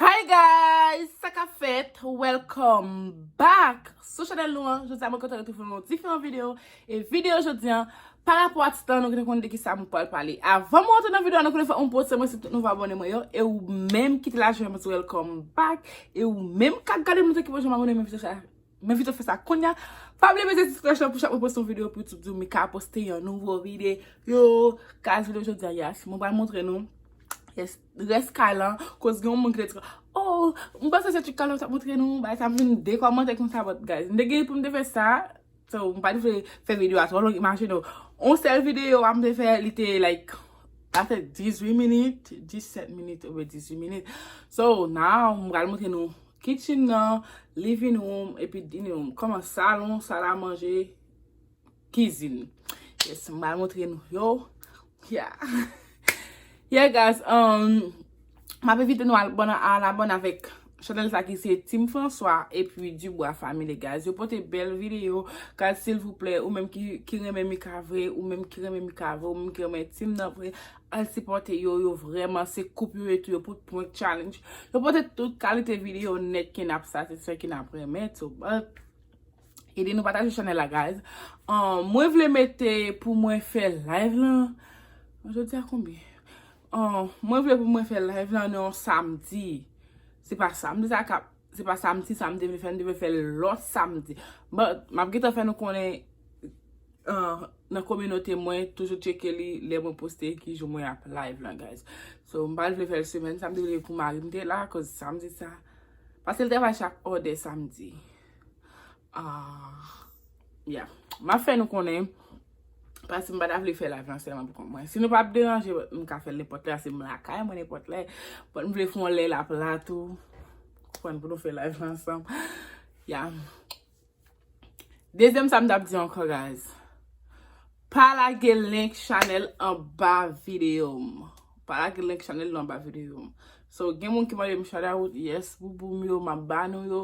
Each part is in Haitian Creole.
Hi guys! Sa kap fèt? Welcome back sou chanèl nou an. Jodi a mwen kontan retrouve nou nan diferan video. E video jodi an, pa rapò a titan nou ki te konn de ki sa mwen pral pale. Avan mwen antre nan video an, nou konnen fòk mwen poste mwen si tout nouvo abòne mwen yo. E ou menm ki te la jwenn mwen di welcome back. E ou menm kap gade m lontan ki pa janm abòne m envite w sa, m envite w fè sa kounya. Pa bliye bese ti klòch lan pou chak mwen poste yon video pou YouTube di w Mika poste yon nouvo video. Kas video jodi a, yes mwen pral montre nou. Yes. Rès kay lan koz gen yon moun ki te di oh m panse se ti kay la ou tap montre nou bagay sa m vin dekòmante konsa but guys m te gen pou m te fè sa so m pat vle fè video a twò long imajine w yon sèl video a m te fè li te like a fè 18 minit 17 minit oubyen 18 minit so now m pral montre nou kitchen nan living room epi dining room kòman salon sal a manje. kizin. Yes, m pral montre nou yo. Yeah. Yeah guys, m ap evite nou al bon al abone avèk chanèl sa ki se Team François e pi Dubois Family guys. Yo pote bèl videyo. Guys silvouplè, ou menm ki renmen Mika vre, ou menm ki renmen Mika vre, ou menm ki renmen Team nan vre, al sipòte yo. Yo vreman se koup yo ye tou. Yo pote prank challenge. Yo pote tout kalite videyo nèt ki n ap satisfè, ki n ap renmen tou. Ede nou pataje chanel la guys. Mwen vle mete pou mwen fè live la. Jodi a konbyen? Mwen vle pou mwen fè live la nan yon samdi. Se pa samdi sa kap. Se pa samdi sa mte vle fè. Mte vle fè lòt samdi. But map geta fè nou konnen nan kominote mwen. Toujou tcheke li lè mwen poste ki jou mwen ap live la guys. So mpa vle fè l semèn sa. Mte vle pou marim te la. Koz samdi sa. Paske l travay chak ode samdi. Ya, m ap fè nou konnen, pasi m pa ta vle fè live lan sèlman pou kont mwen. Si nou pa ap deranje, m ka fè l nenpòt lè, ase m lakay mwen nenpòt lè. Bon, m vle fè yon lè l ap la tou, konprann pou nou fè live lan ansanm. Ya. Dezyèm sa m ta ap di ankò guys. Pa lage link chanel anba video m. Pa lage link chanel nou anba video m. So gen moun ki mande m shout out, yes boubou m yo map ba nou yo.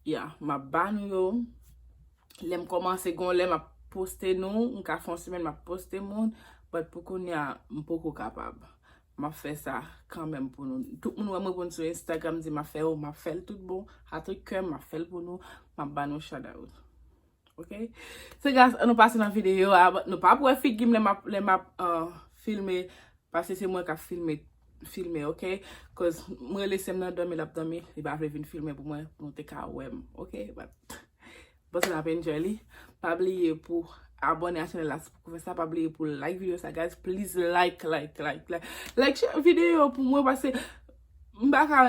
Yeah, map ba nou yo. Lè m komanse gon lè map poste nou, m ka fè yon semèn map poste moun, but pou kounya m poko kapab. Map fè sa kanmèm pou nou. Tout moun wè m reponn sou Instagram di m ap fè yo, map fè l tout bon, a tout kè m map fè l pou nou, map ba nou shout out. Ok So guys an nou pase nan video a but nou pap wè figim lè map lè map uh filme paske se mwen kap filme filme ok cuz m rele sèm nan domi lap domi li pa vle vin filme pou mwen pou nou te ka wèm ok but bon se nap enjoy li pa bliye pou abone a chanel la si poko fè sa pa bliye pou like video sa guys please like like like like like chak video pou mwen paske M pa ka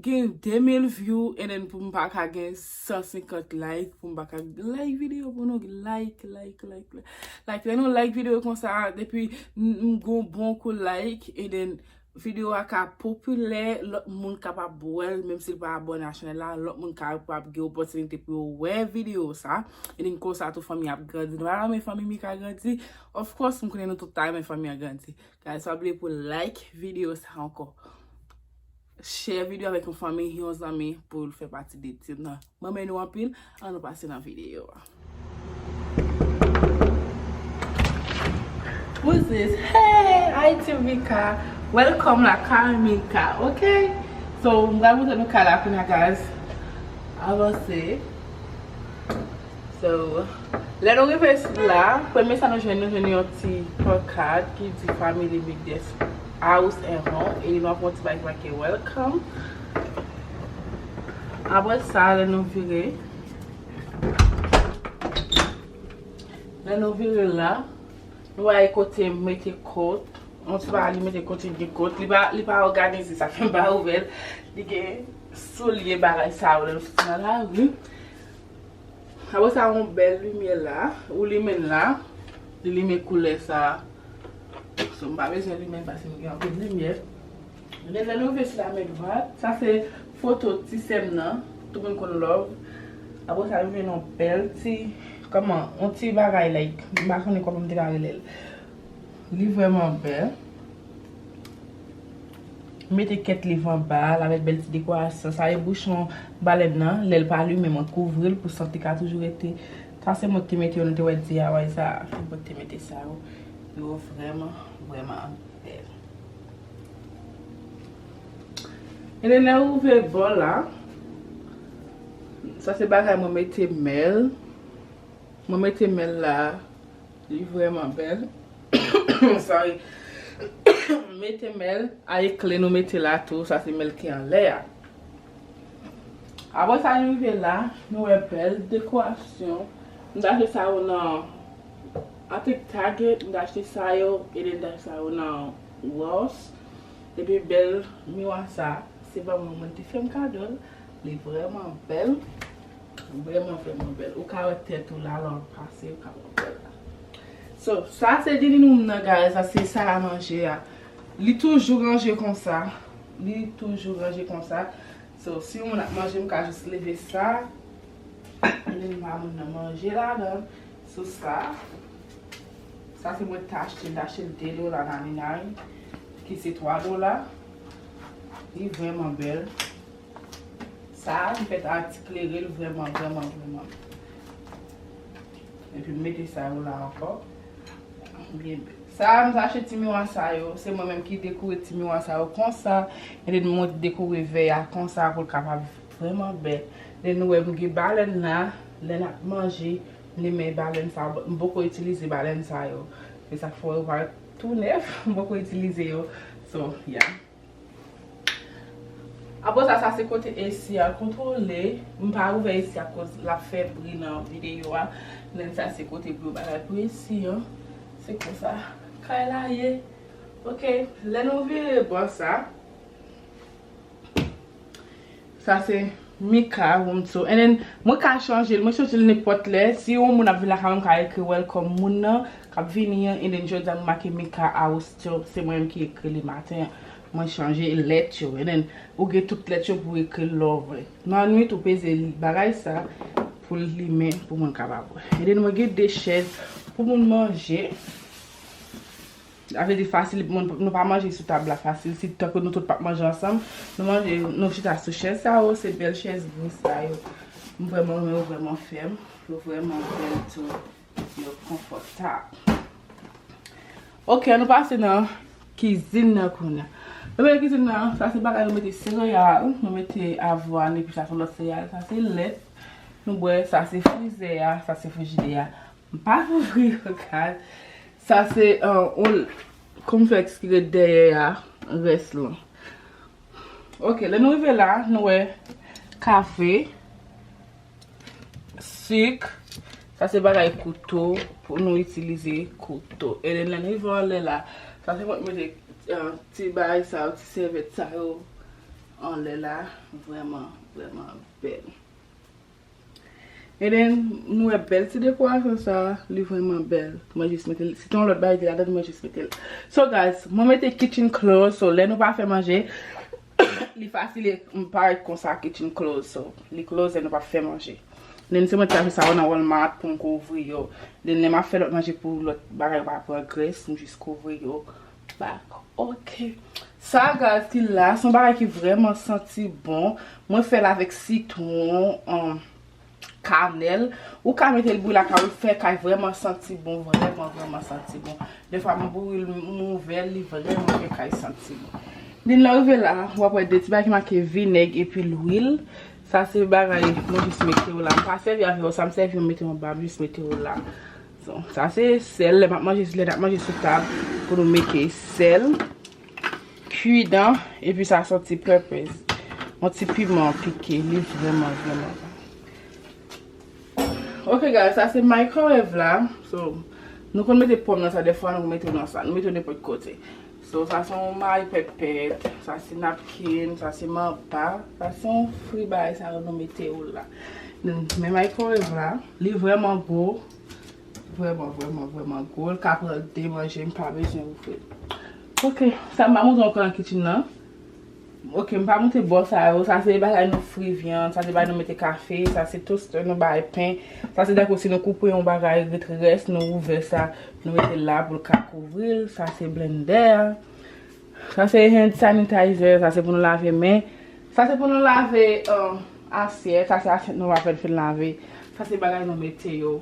gen 2000 view and then pou m pa ka gen 150 like pou m pa ka like video pou nou like like like like lè nou like video konsa depi m gen yon bon kou like and then video a ka popilè lòt moun kapab wèl menm si l pa abòne a chanèl la lòt moun kapab gen opòtinite pou yo wè video sa and then konsa tou fanmi a ap grandi nou pa ta renmen fanmi mika grandi of course m konnen nou tout ta renmen fanmi an grandi. Guys pa bliye pou like video sa ankò. Share video avèk yon fanmi, yon zanmi pou l fè pati de team nan. Mwen renmen nou anpil, an nou pase nan video a. Who is this? Hey! Hi team Mika! Welcome la kay Mika, ok? So, m pral montre nou kay la kounya guys. Avanse. So, lè nou rive isit la, premye sa nou jwenn, nou jwenn yon ti pankad ki di Family Migdes House and Home e li nwa pou yon ti bagay ki make Welcome. Apre sa, lè nou vire, lè nou vire la, nou wè kote mete kòt, yon ti bagay li mete kote gen kòt, li pa òganize sa fè m pa ouvè l, li gen soulye bagay sa yo lè nou soti nan lari. Apre sa yon bèl limyè la, ou limenn la, li limen koulè sa. So m pa bezwen limenn paske m gen anpil limyè. Ebyen lè nou rive sou la men dwat, sa se foto ti sè m nan, tout moun konn love. Apre sa nou jwenn yon bèl ti, kòman, yon ti bagay like, m pa konnen kòman m te ka rele l. Li vrèman bèl. Mete kèt liv anba l avèk bèl ti dekorasyon sa e bouchon balèn nan lè l pa limen mwen kouvri l pou sant li ka toujou rete sa se mwen ki te mete yo nou te wè DIY sa a se mwen ki te mete sa yo yo vrèman vrèman bèl e lè lè ou ouvè bò la sa se bagay mwen mete mèl mwen mete mèl la. Li vreman bel. Sorry. Mete mel a e kle nou mete la tou. Sa se mel ki anle a. Apre sa nou rive la. Nou we bel dekorasyon. M ta achte sa yo nan. I think Target. M ta achte sa yo. E then m ta achte sa yo nan Ross. E pi bel miwa sa. Se pa mwen mwen te fem kado l. Li vreman bel. Ou vreman vreman bel. Ou ka we tet ou la lan pase ou ka we tet la. So sa se dining room nan guys la se sal a manje a. Li toujou ranje konsa. Li toujou ranje konsa. So si yon moun ap manje m ka jis leve sa. Epi m ba moun nan manje ladan. So sa. Sa se mwen te achte. M te achte l 2 dola nan Alina. Ki se 3 dola. Li vreman bel. Sa a m fèt ak ti klere l vrèman vrèman vrèman. Epi m mete sa yo la ankò. Sa a m te achte ti miwa sa yo. Se mwen menm ki dekore ti miwa sa yo konsa. E de nou mwen dekore vè a konsa pou l kapab vrèman bèl. De nou wè m gen balèn la. Lè n ap manje, m li men balèn sa yo. M poko itilize balèn sa yo. Se sa k fè yo paret tou nèf. M poko itilize yo. So, ya. Aprè sa sa se kote AC a kontrole, m pa ouvè AC a koz lap fè bri nan videyo a, men sa se kote pou yo bagay pou AC an, se konsa kay la ye ok. Lè nou vire bò sa. Sa se Mika Roomtoo and then mwen ka chanjel, mwen chanjel nenpòt lè, si yon moun ap vin lakay mwen mka ekri welcome moun nan kap vini an and then jodi a mwen make Mika Austeo se mwen menm ki ekri li maten an mwen chanje lèt yo and then ou gen tout lèt yo pou ekril lè w vle nan nwit ou peze bagay sa pou l limen pou moun kapab wè and then mwen gen 2 chèz pou moun manje. Sa vle di fasil pou moun, nou pa manje sou tab la fasil, si tankou nou tout pap manje ansanm, nou manje, nou chita sou chèz sa yo, se bèl chèz gri sa yo. M vrèman renmen yo vrèman fèm, yo vrèman bèl tou, yo konfòtab. Ok, an nou pase nan kizin nan kounya. Premye nan kizin nan, sa se bagay nou mete sereyal, nou mete avwàn epi sa son lòt sereyal, sa se lèt nou bwè, sa se frizè a, sa se frijidè a. M pa kouvri yon kay. Sa se yon konplèks ki ret dèyè a, rès lan. Ok, lè nou rive la, nou wè kafe, sik, sa se bagay kouto pou nou itilize kouto. E lè nou rive anlè la, sa se pou nou mete ti bagay sa yo, ti sèvyèt sa yo anlè la. Vrèman, vrèman bèl. And then, nou wè bèl ti dekorasyon sa, li vrèman bèl. Mwen jis mete l, si te yon lòt bagay ki ladan l mwen jis mete l. So guys, mwen mete kitchen close, so lè nou pa fè manje, li fasil e m parèt konsa kitchen close, so li close lè nou pa fè manje. Then se mwen te achte sa yo nan Walmart pou m kouvri yo. Then lè m ap fè lòt manje pou lòt bagay yo pa pran grès, m jis kouvri yo. Back ok Sagar ki la son bagay ki vreman santi bon mwen fel avek sitron an kanel ou ka metel bouyi lakay ou fe kay vreman santi bon vreman vreman santi bon defwa mwen bouyi l mwen ouvel li vreman fe kay santi bon li lè ou rive la wap we de ti bagay ki make vineg epi lwil sa se bagay mwen jis mete yo la m pa sevi avèl sa m sevi mwen mete yo anba m jis mete yo la. Sa se sèl, lè nap manje sou tab pou nou mete sèl, kwi dan, epi sa son ti pèpèz. Yon ti piman pike, li vreman vreman bon. Ok guys, sa se microwave la, nou konn mete pòm nan sa, defwa nou mete nan sa, nou mete nenpòt kote. So sa se yon may pètpèt, sa se napkin, sa se manpa, sa se yon fri bagay sa yo nou mete yo la. Men microwave la, li vreman gwo, vreman vreman vreman gwo, li ka pran 2 manje, m pa bezwen ouvri l. Ok, sa m ba montre w anko nan kitchen nan. Ok m pa moute bò sa yo, sa se bagay nou fri vyann, sa se bagay nou mete kafe, sa se toste nou bay pen, sa se tankou si nou koupe yon bagay ret rès nou ouvè sa nou mete la pou l ka kouvri l, sa se blendè, sa se hand sanitizer, sa se pou nou lave men, sa se pou nou lave asyèt, sa se asyèt nou apèn fin lave, sa se bagay nou mete yo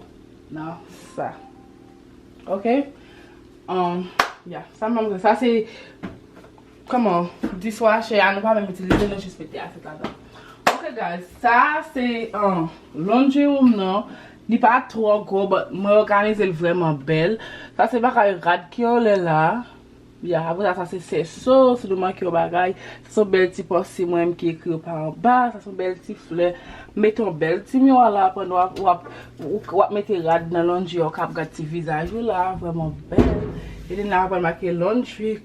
nan sa. Ok? Sa se Kòman? Dishwasher a nou pa menm itilize nou jis mete asyèt ladan. Ok guys, sa a se laundry room nan. Li pa twò gwo but mwen òganize l vrèman bèl. Sa se bagay rad ki anlè la. Ya, aprè sa sa se sèso si nou manke yon bagay. Sa se yon bèl ti pòse mwen menm ki ekri yo pa anba. Sa se yon bèl ti flè. Mete yon bèl ti miwa la pandan w ap w ap mete rad nan laundry a ou kab gad ti vizaj ou la vrèman bèl. Elena aprann make laundry.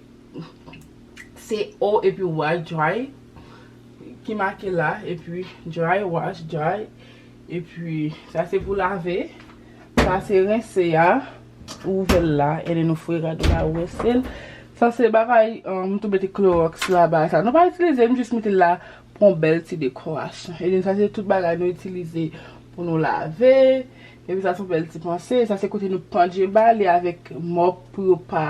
Se o epi way, dry, ki make la. Epi dry wash, dry. Epi sa se pou lave. Sa se rense a. Ou ouvè l la. E de nou fwe rad ou la ou rense l. Sa se bagay m tou mete kloroks la ba sa. Nou pa itilize m jis mete l la pou yon bèl ti dekorasyon. E de sa se tout bagay nou itilize pou nou lave. Epi sa son bèl ti panse. Sa se kote nou pandje ba li avèk mòp pou yo pa,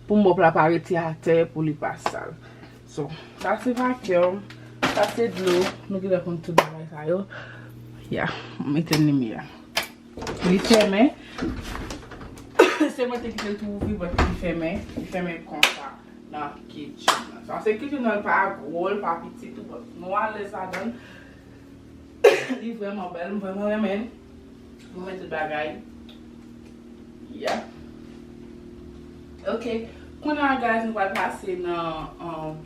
pou mòp la pa rete atè, pou li pa sal. So, sa se vacuum, sa se dlo, nou genlè konn tout bagay sa yo. Ya, m etenn limyè a. Li fèmen. Se mwen te kite l tou ouvri but li fèmen. Li fèmen konsa nan kitchen nan. Sa se kitchen nan, li pa gwo, li pa piti tou but nou alèz ladan l. Li vreman bel, m vreman renmen l. Mwen mwen tout bagay. Yeah. Ok, kounya guys nou pral pase nan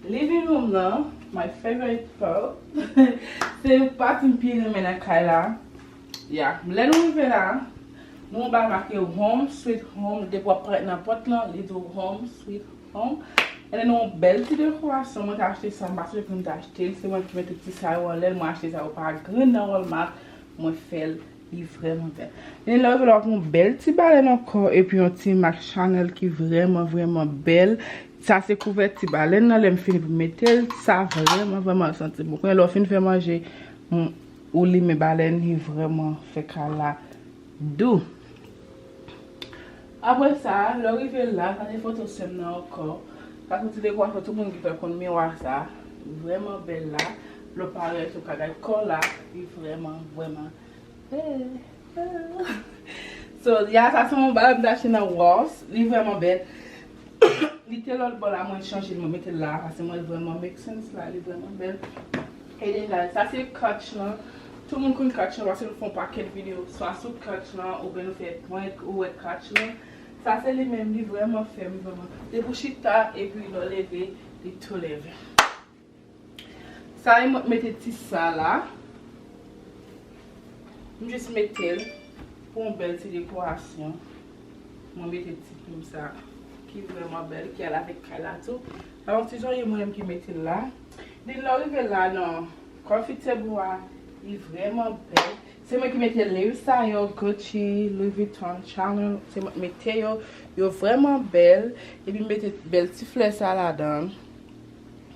living room nan, my favorite part. Se pati m pi renmen nan kay la. Yeah, lè nou rive la, nou wè yon bagay make home sweet home, depi wap pran nan pot lan, li di w home sweet home. Bon An nou yon bèl ti dekorasyon mwen ta achte sa m pa sonje kote m ta achte l se mwen ki mete ti sa yo anlè l mwen achte sa yo pa grenn nan walmart mwen fè l li vrèman bèl men lè w vè l wap wè yon bèl ti balèn ankò epi yon ti mak chanèl ki vrèman vrèman bèl sa se kouvèti balèn nan lè m fini pou m mete l sa vrèman vrèman santi bon kounye a lè w fin fè manje ou limen balèn li vrèman fè kay la Dou. Apre sa, lè w rive la, gade foto sè m nan ankò. Sa se ti dekwafè tout moun ki fè l konn miwa sa a. Li vrèman bèl la. Lè w parèt ou ka gad kò l la. Li vrèman, vrèman bèl. So, ya sa se yon bagay m te achte nan Ross. Li vrèman bèl. Li te lòt bò la mwen chanje l mwen mete l la a paske m wè l vrèman make sense la. Li vrèman bèl. Eden Dany sa se catch lan tout moun konn catch lan paske nou fè yon pakèt video swa sou catch lan oubyen nou fè prank ou wè catch lan sa se li menm li vrèman fèm vrèman depi ou chita epi lè w leve li tou leve sa e mwen mete ti sa la m jis mete l pou yon bèl ti dekorasyon mwen mete ti plim sa ki vrèman bèl ki al avèk kay la tou sa yon ti jwaye mwen menm ki mete l la. Li lè w rive la nan Coffee table a, li vrèman bèl. Se mwen ki mete lace sa yo, Gucci, Louis Vuitton, Chanel, se mwen ki mete yo. Yo vrèman bèl. Epi m mete bèl ti flè sa ladan.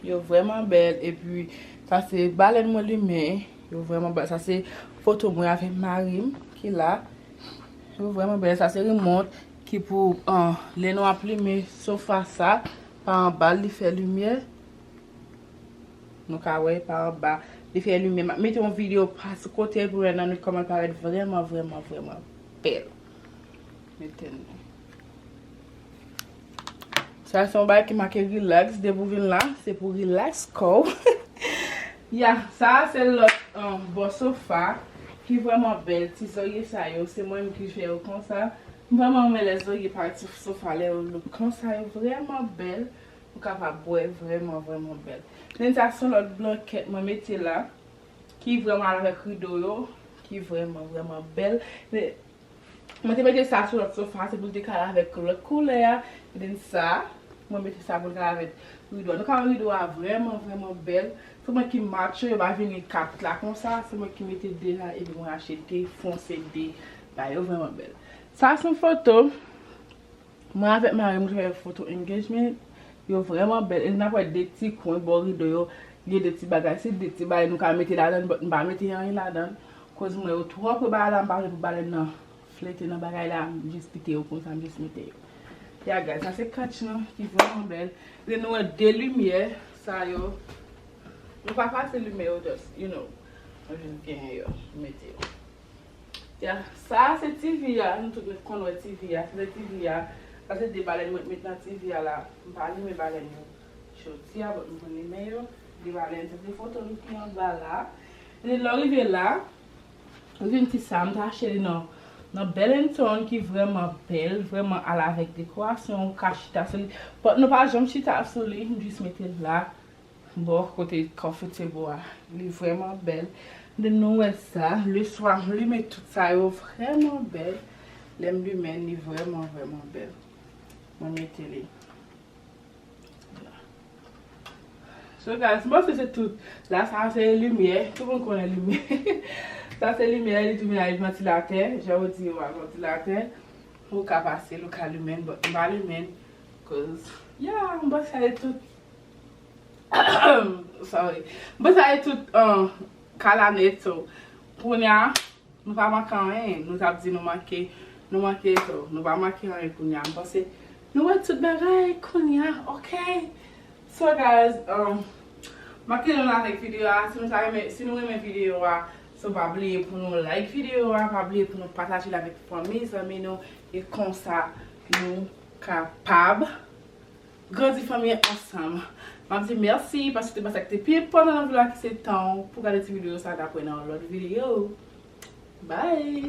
Yo vrèman bèl. Epi sa se balèn mwen limen. Yo vrèman bèl. Sa se foto mwen avèk mari m ki la. Yo vrèman bèl. Sa se rimòt ki pou lè nou ap limen sofa sa. Pa anba l li fè limyè. Nou ka wè pa anba. Li fè limyè. Map mete yon video pas kotel pou nou wè nan nwit koman l parèt vrèman vrèman vrèman bèl. Mete nou. Sa se yon bagay ki make relax. Depi ou vin la, se pou relax kò w. Ya, sa a se lòt bò sofa ki vrèman bèl. Ti zorye sa yo, se mwen menm ki fè yo konsa. M vrèman renmen lè zorye pare sou sofa lè yo look konsa. Yo vrèman bèl. Ou kapab wè vrèman vrèman bèl. Men sa son lòt blankèt mwen mete la. Ki vrèman al avèk rido yo. Ki vrèman vrèman bèl. Mwen te mete sa sou lòt sofa. Se pou l te ka al avèk lòt koulè a. Ebyen sa. Mwen mete sa pou l ka al avèk rido a. Nou ka wè rido a vrèman vrèman bèl. Se mwen ki match yo. Yo pa vini 4 la konsa. Se mwen ki mete 2 la. Ebyen mwen achete fonse 2 la. Yo vrèman bèl. Sa son foto. Mwen avèk marim t fè foto engagement yo vrèman bèl e nap wè 2 ti kwen bò rido yo gen 2 ti bagay si 2 ti bagay nou ka mete ladann but m pa mete anyen ladann koz m wè yo twò pre bagay la m pa vle pou balèn nan flète nan bagay la m jis kite yo konsa m jis mete yo ya gad sa se catch lan ki vrèman bèl epi nou wè 2 limyè sa yo nou pa fasil limyè yo just you know mwen jis genyen yo m mete yo. Yeah sa a se TV a nou tout met konn wè TV a fenèt TV a sa se 2 balèn mwen t met nan TV a la m pa limen balèn yo jodi a but m konn limen yo 2 balèn sa se foto nou ki anba la epi lè w rive la ou jwenn ti sa a m t achte li nan nan Bellinton ki vrèman bèl vrèman al avèk dekorasyon ou ka chita sou li but nou pa janm chita sou li m jis mete l la. Bò kote Comfortable a li vrèman bèl. M'vin nou wè sa le swa m limen tout sa yo vrèman bèl. Lè m limen li vrèman vrèman bèl. Mwen mete li la. So guys m panse se tout. La sa se limyè. Tout moun konnen limyè. Sa se limyè li tounen avèk vantilatè. Jan yo di yo a vantilatè. Ou ka pase l ou ka limen l but m pa limen l cause yeah m panse sa se tout. Sorry Mwen sa e tout kalanet so Kounya Nou pa manke anyen Nou tap di nou manke Nou manke so Nou pa manke anyen kounya M panse Nou wè tout bagay kounya ok So guys Map kite nou la avèk video a Si nou ta renmen Si nou renmen video a So pa bliye pou nou like video a Pa bliye pou nou pataje l avèk fanmi zanmi nou E konsa Nou kapab Grandi fanmi an ansanm. Map di merci paske te pa sak te pi enpotan nan vi la ki se tanw pou gade ti video sa dap wè nan yon lot video bye.